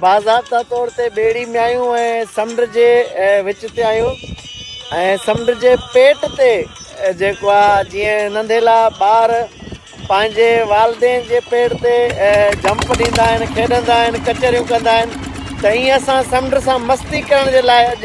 باضابطا طور تي ٻيڙي ۾ آيون ۽ سمنڊ جي وچ تي آيون ۽ سمنڊ جي پيٽ تي جيڪو آ جيئن ننڍيلا ٻار پنهنجي والدين جي پيڙ تي جمپ ڏيندا آهن کيڏندا آهن ڪچهريون ڪندا آهن ته ائين اسان سمنڊ سان مستي ڪرڻ جي لاء اڄ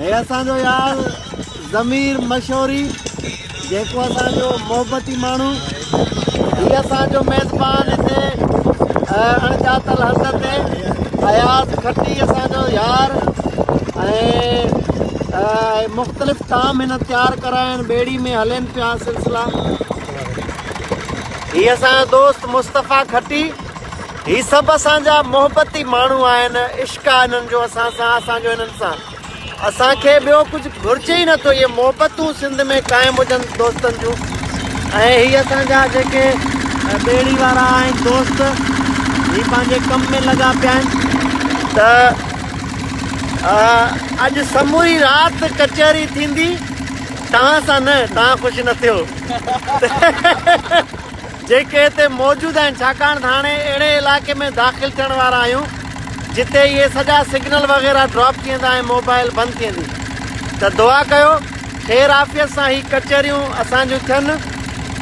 هي اسان جو يار ضمير مشوري جيڪو اسان جو محبتي ماڻهو هي اسان جو ميزبان هتي اڻڄاتل هنڌ تي اياز کٽي اسان جو يار ۽ مختلف طعام هن تيار ڪرا آهن ٻيڙي ۾ هلين پيا سلسلا هي اسان جو دوست مصطفيٰ کٽي هي سڀ اسان جا محبتي ماڻهو آهن عشق آهي هنن جو اسان سان اسان جو هنن سان اسان کي ٻيو ڪجهه گهرجي ئي نٿو اهي محبتون سنڌ ۾ قائم هجن دوستن جون ۽ هي اسان جا جيڪي ٻيڙي وارا آهن دوست هي پنهنجي ڪم ۾ لڳا پيا آهن ته اڄ سموري رات ڪچهري ٿيندي توهان سان نه توهان خوش نه ٿيو جيڪي هتي موجود آهن ڇاڪاڻ ته هاڻي اهڙي علائقي ۾ داخل ٿيڻ وارا آهيون جتي اهي سڄا سگنل وغيره ڊراپ ٿي ويندا ۽ موبائل بند ٿي ويندي ته دعا ڪيو خير عافيت سان هي ڪچهريون اسان جون ٿين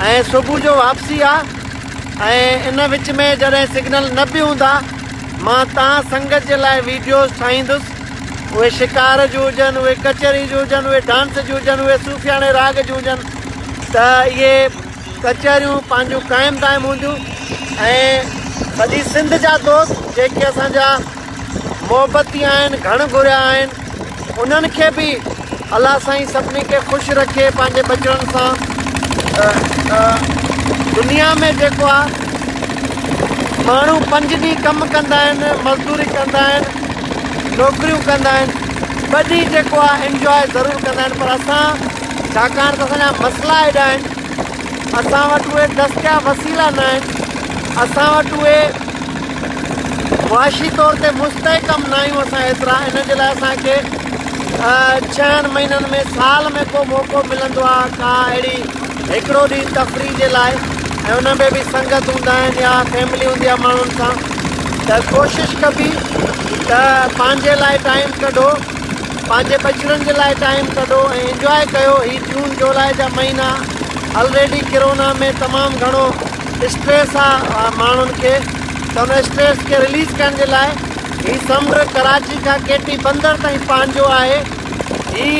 ۽ صبح جو واپسي آ ۽ ان وچ ۾ جڏهن سگنل نه به هوندا مان تان سنگت جي لاء ويڊيوز ٺاهيندس اهي شڪار جون هجن اهي ڪچهري جون هجن اهي ڊانس جون هجن اهي صوفياڻي راڳ جون هجن ته اهي ڪچهريون پنهنجون قائم دائم هونديون ۽ سڄي سنڌ جا دوست جيڪي اسان جا محبتي آهن گهڻ گهريا آهن انهن کي به الله سائين سڀني کي خوش رکي پنهنجي ٻچڙن سان دنيا ۾ جيڪو آهي ماڻهو پنج ڏينهن ڪم ڪندا آهن مزدوري ڪندا آهن نوڪريون ڪندا آهن ٻ ڏينهن جيڪو آهي انجوائي ضرور ڪندا آهن پر اسان ڇاڪاڻ ته اسان جا مسئلا ايڏا آهن، اسان وٽ اهي دستياب وسيلا نه آهن، اسان وٽ اهي معاشي طور تي مستحڪم نه آهيون اسان ايترا، ان جي لاء اسان کي ڇهن مهينن ۾ سال ۾ ڪو موقعو ملندو آهي ڪا اهڙي هڪڙو ڏينهن تفريح جي لاء ۽ ان ۾ به سنگت هوندا آهن يا فيملي هوندي آهي ماڻهن سان ته ڪوشش ڪبي ته پنهنجي لاء ٽائيم ڪڍو. پنهنجي ٻچڙن جي لاء ٽائيم ڪڍو ۽ انجواء ڪيو هي جون جولاء جا مهينا الريڊي ڪرونا ۾ تمام گهڻو اسٽريس آ ماڻهن کي ته ان اسٽريس کي رليز ڪرڻ جي لاء هي سمنڊ ڪراچي کان ڪي ٽي بندر تائين پنهنجو آهي هي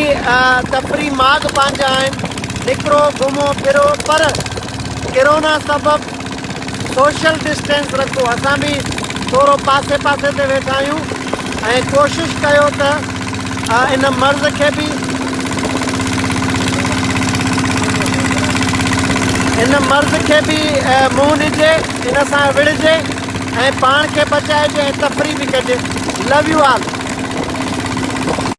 تفري ماڳ پنهنجا آهن نڪرو گهمو ڦرو پر ڪرونا سبب سوشل ڊسٽينس رکو اسان به ٿورو پاسي پاسي تي ويٺا آهيون ۽ ڪوشش ڪيو ته ان مرض کي به ان مرض کي به منهن ڏجي ان سان وڙهجي ۽ پاڻ کي بچائجي ۽ تفريح به ڪجي لو يو آل